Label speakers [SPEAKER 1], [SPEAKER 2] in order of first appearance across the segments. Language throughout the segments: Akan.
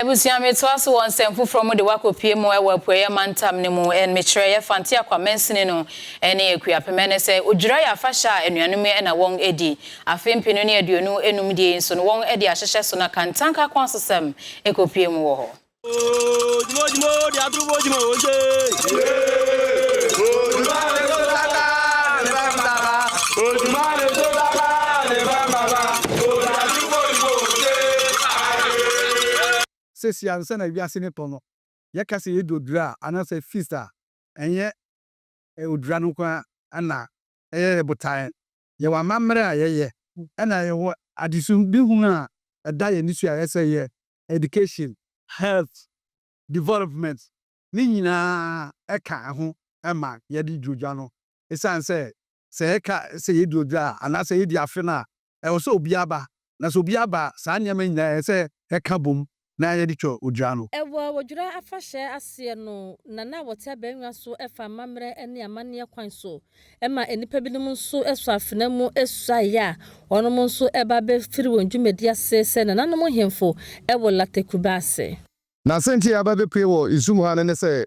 [SPEAKER 1] Abusua me toa so wɔ nsɛm foforɔ mu de wo akɔ pie mu ɛwɔ apueɛ mantam no mu and me kyerɛ yɛ Fante Akwa Mansini no ɛne Akuapem ɛnɛ sɛ odwira yɛ afahyɛ a anuanom yi ɛna wɔn ɛdi afe mpenu ne aduonu ɛnum deɛ yi nso no wɔn ɛde ahyehyɛ so na kantanka kwan so sɛm ɛkɔ pie mu wɔ hɔ. Ooh
[SPEAKER 2] dwuma o dwuma o deɛ dwuma o dwuma o.
[SPEAKER 3] Sesei ansa na wiase no tɔ no, yɛka sɛ yɛadi odwira a anaasɛ feast a, ɛnyɛ odwira no nko ara na ɛyɛ yɛn botae. Yɛwɔ amammerɛ a yɛyɛ na yɛwɔ adesudihunu a ɛda yɛn ani so a ɛyɛ sɛ yɛyɛ, education, health, development, ne nyinaa ka ho ma yɛde di odwira no. Esiane sɛ sɛ yɛka sɛ yɛadi odwira a anaasɛ yɛadi afe no a ɛwɔ sɛ obiara ba, na sɛ obiara ba a, saa nneɛma yi nyinaa ɛyɛ sɛ ɛka bom na yɛde twa odwira no. Wɔ odwira
[SPEAKER 4] afahyɛ aseɛ no na na wɔte abangua so fa amammerɛ ne amanneɛ kwan so ma nnipa binom nso sɔ afena mu suaeɛ a wɔnom nso ba bɛ firi wɔn dwumadie ase sɛ nananom nhemfo wɔ Latte Kubase. Na sɛ nti a
[SPEAKER 5] yɛaba bɛpue wɔ nsu mu ha no ne sɛ,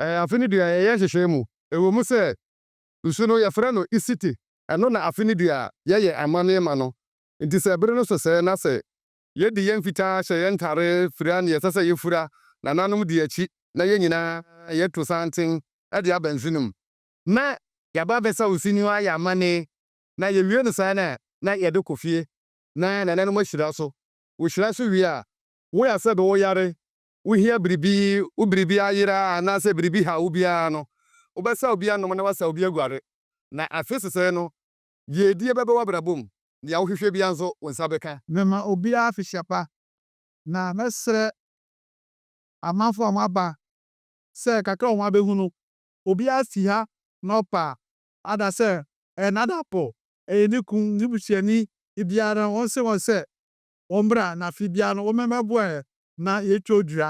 [SPEAKER 5] afe no du a yɛyɛ nhyehyɛɛ mu, ɛwɔ mu sɛ Nsu no, yɛfrɛ no isite. Ɛno na afe no dua a yɛyɛ amanneɛ ma no. Enti sɛ bere no so sɛɛ na sɛ. Yedi yɛn fitaa, hyɛ yɛn ntade, fura nea ɛsɛ sɛ yefura, nananom di akyi, na yɛn nyinaa yɛto santen de aba nsu no mu. Na yɛaba abɛsaw nsu no ayɛ amanne, na yewie no saa no a, na yɛde kɔ fie, na nananom ahyira so. Wohyira so wie a, woyɛ asɛ de wo yare wohia biribi, wo biribi ayera anaasɛ biribi haw wo biara no, wobɛsaw bi anom na woasaw bi aguare. Na afe sesɛɛ no, yiedie bɛba w'abrabɔ mu, deɛ wohwehwɛ biara nso, wo nsa bɛka. Mɛma obiara afihyɛ
[SPEAKER 3] pa, na mɛsrɛ amanfoɔ a wɔaba sɛ kakra a wɔabɛhunu, obiara fi ha na ɔpa ada sɛ ɛyɛ n'adamfo, ɛyɛ ne kunu, ne busuani biara, ɔnse wɔn sɛ, wɔn bra na afe biara no wɔn mɛmɛboɛ na yɛtwa odua.